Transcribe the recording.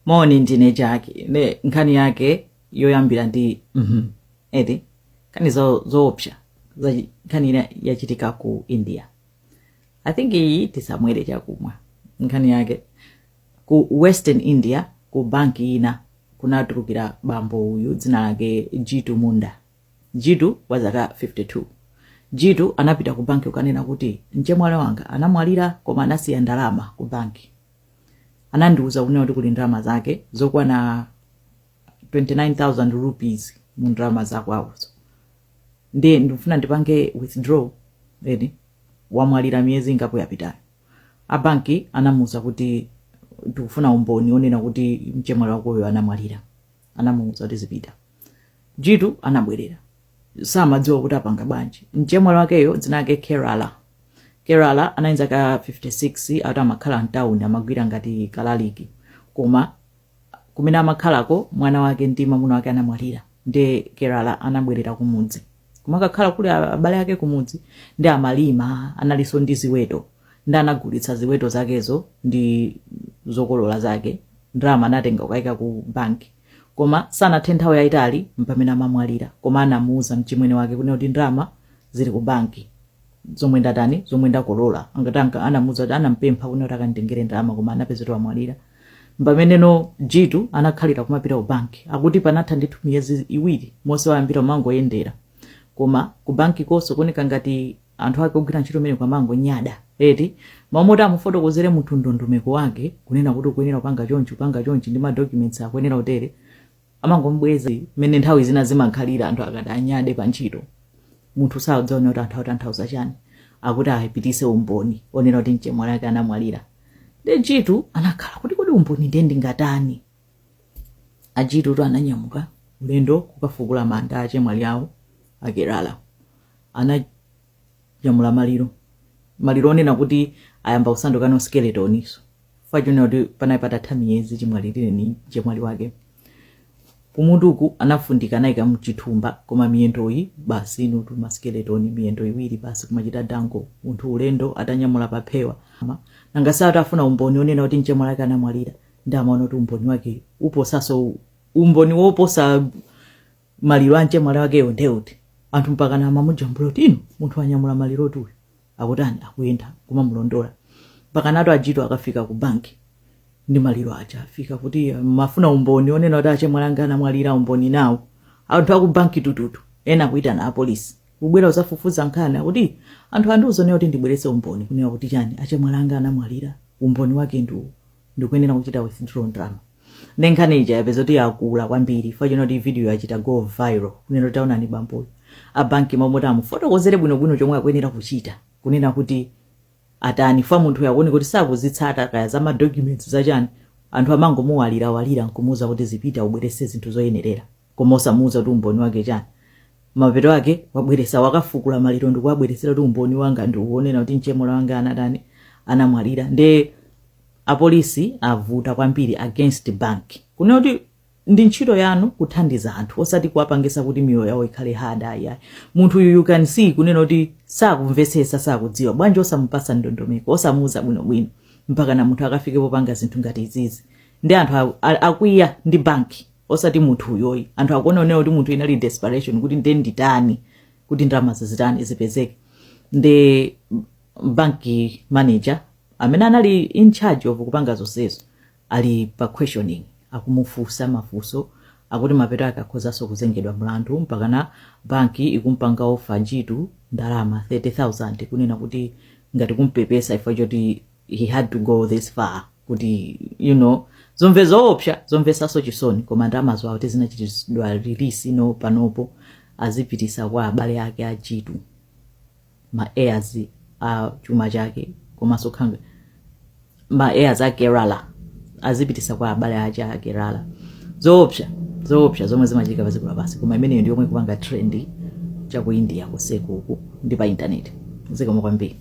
moni ndine Jackie nde nkhani yake yoyambira ndi mhm eti nkhani zo- zoopsa za nkhani ina yachitika ku india i think iyi tisamwere chakumwa nkhani yake ku western india ku banki ina kunatulukira bambo uyu dzina lake jitu munda jitu wa zaka 52 jitu anapita ku banki kukanena kuti mchemwali wanga anamwalira koma anasiya ndalama ku banki anandiuza kunena kuti kuli ndalama zake zokwana 29000 rupees mu ndalama zakwawozo ndiye ndikufuna ndipange withdraw nde wamwalira miyezi ingapo yapitayo abanki anamuuza kuti tikufuna umboni onena kuti mchemwali wakoyo anamwalira anamuuza kuti zipita Jitu anabwerera. Samadziwa kuti apanga bwanji. Mchemwali wakeyo dzina lake Kerala. Kerala anali ndi zaka 56 ati amakhala mtawuni amagwira ngati kalaliki. Koma kumene amakhalako mwana wake ndi mamuna wake anamwalira. Nde Kerala anabwerera kumudzi. Kumakakhala kuli abale ake kumudzi nde amalima analiso ndi ziweto. Nde anagulitsa ziweto zakezo ndi zokolola zake. Ndalama anatenga kukaika ku banki. Koma sanathe nthawi yaitali mpamene amamwalira koma anamuuza mchimwene wake kunena kuti ndalama zili ku banki zomwe ndatani zomwe ndakolola angati anka anamuuza kuti anampempha kunena kuti akanditengere ndalama koma anapeza kuti wamwalira mpameneno Jitu anakhalira kumapita ku banki akuti panatha ndithu miyezi iwiri mmene wayambira kumangoyendera koma ku banki konso kuoneka ngati anthu ake ogwira ntchito kumeneko amangonyada eti mmalo moti amufotokozere munthu ndondomeko yake kunena kuti ukuyenera kupanga chonchi kupanga chonchi ndi madocuments akuyenera kutere amangomubweza mmene nthawi zina zimakhalira anthu akati anyade pa ntchito munthu sakudziwa kuti anthu akutanthauza chani akuti apititse umboni onena kuti mchemwali ake anamwalira nde jitu anakhala kuti kodi umboni nde ndingatani ajitutu ananyamuka ulendo kukafukula manda achemwali awo akerala ananyamula maliro maliro onena kuti ayamba kusanduka skeletoninso chifukwa chonena kuti panali patatha miyezi chimwalirireni mchemwali wake kumutuku anafundika anayika mchithumba koma miyendoyi basi inutu maskeletoni miyendo iwiri basi kumachita dango munthu ulendo atanyamula paphewa Ma- nanga si akufuna umboni onena kuti mchemwali wake anamwalira nde amaona kuti umboni wake uposaso umboni woposa maliro a mchemwali wakeyo nde uti? anthu mpakana amamujambula kuti inu munthu wanyamula malirotu uyu akutani akuyenda kumamulondola mpakanatu ajitu akufika ku banki ndi maliro aja afika kuti "Ah, mumafuna umboni onena kuti achemwali anga anamwalira umboni nawo anthu aku banki tututu ena akuyitana apolisi kubwera kudzafufuza nkhani akuti anthu andiuza kuti ndibweretse umboni kunena kuti chani achemwali anga anamwalira umboni wake ndi uwu ndikuyenera kuchita withdraw ndalama ndi nkhani ija yapeza kuti yakula kwambiri chifukwa choti video yachita go viral kunena kuti taonani bamboyo abanki m'malo moti amufotokozere bwinobwino chomwe akuyenera kuchita kunena kuti atani fa munthuyo akuoneka kuti sakuzitsata kaya za madocuments zachani anthu amangomulalira lalira nkumuuza kuti zipita ubwerese zinthu zoyenerera koma osamuuza kuti umboni wake chani mapeto ake wabweresa wakafukula maliro ndikuwabweresera kuti umboni wanga ndi uwu wonena kuti mchemwali wanga anatani anamwalira nde apolisi avuta kwambiri against bank kunena kuti ndi ntchito yanu kuthandiza anthu osati kuwapangisa kuti miyoyo yawo ikhale hada ayayi munthu uyu you can see kunena kuti sakumvetsetsa sakudziwa bwanji osamupasa ndondomeko osamuuza bwinobwino mpakana munthu akafike popanga zinthu ngati izizi nde anthu a- a- akwiya ndi banki osati munthuyo ayi anthu akuona kunena kuti munthuyo inali desperation kuti nde nditani kuti ndalamazi zitani zipezeke nde banki manager amene anali in charge of kupanga zonsezo ali pa questioning akumufunsa mafunso akuti mapeto ake akhozanso kuzengedwa mlandu mpakana banki ikumpanga ofa jitu ndalama 30000 kunena kuti ngati kumpepesa ifa choti he had to go this far kuti you know zomveka zoopsa zomvesaso chisoni koma ndamazo akuti zinachitidwa release ino panopo azipitisa kwa abale ake a jitu ma heirs a chuma chake komanso kaya ma heirs a kerala azipitisa kwa abale ake a kerala zoopsa zoopsa zomwe zimachitika padziko lapansi koma imeneyo ndiyomwe ikupanga trend cha ku india kuseko uku ndi pa intaneti zikomo kwambiri